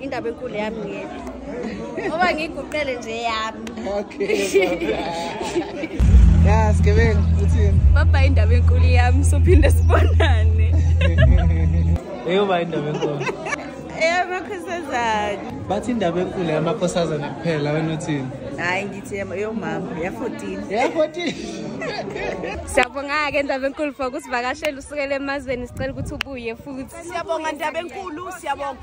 indaba enkulu yami ngiyena ngoba ngiyiguqele nje yami ya sigebengu uthini baba indaba enkulu yami sophinde sibonane eyoba indaba enkulu eyamakhosazane bathi indaba enkulu yamakhosazane kuphela wena uthini hayi ngithi yomama ya-fourteen ya-fourteen siyabonga-ke ndaba enkulu for kusivakashela usukela emazweni sicela ukuthi ubuye futhi siyabonga ndaba enkulu siyabonga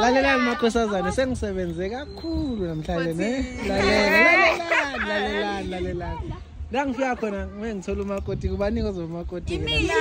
lalelani makhosazane sengisebenze kakhulu namhlanje ne lalelani lalelani lalelani la ngifika khona ngeke ngithole umakoti kubaningi ozoba umakoti mina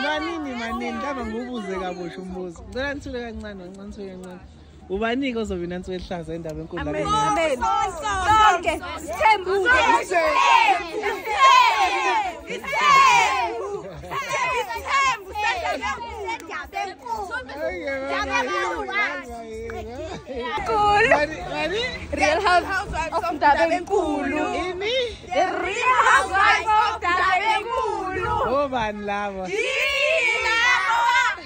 nanini manini ndaba ngubuze kabusha umbuzo ngicela nithule kancane kancane thule kancane ubanike ozowina nsuku elihlaza endaba enkundla Real Housewives of Ndabenkulu. Ini? The Real Housewives of Ndabenkulu. Obani labo? Yini?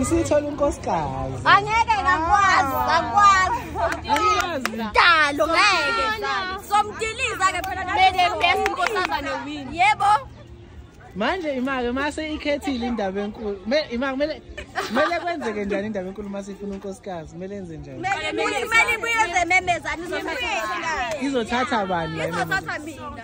Isithola unkosikazi. Angeke ngakwazi, ngakwazi. Dalo ngeke. Somdiliza ke phela nathi. Mele bese inkosaba ne win. Yebo. Manje imake mase ikhethile indaba enkulu. Imake mele mele kwenzeke njani indaba enkulu mase ifuna unkosikazi? Mele enze njani? Mele mele kuyeze memezani izothatha. Izothatha bani la? Izothatha mina.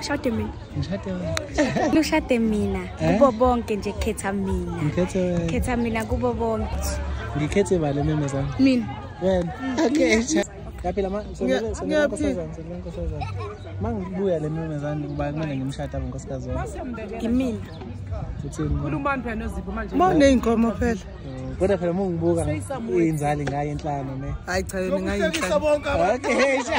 Shade mina. Ngishade wena. Lushade mina eh? kubo bonke nje khetha mina. Ngikhethe wena. Khetha mina kubo bonke. Ngikhethe bale meme zami. Mina. Wena. Okay. Yaphila ma sonela sonela nkosazana sonela nkosazana. Mangibuya le meme zami kuba kumele ngimshade abo nkosikazi wami. Ngimina. Uthini? Khuluma manje nozipho manje. Mawuneyinkomo phela. kodwa phela mungibuka inzali ngayo inhlano ne hayi cha yona ngayinhlano bonke abantu okay sha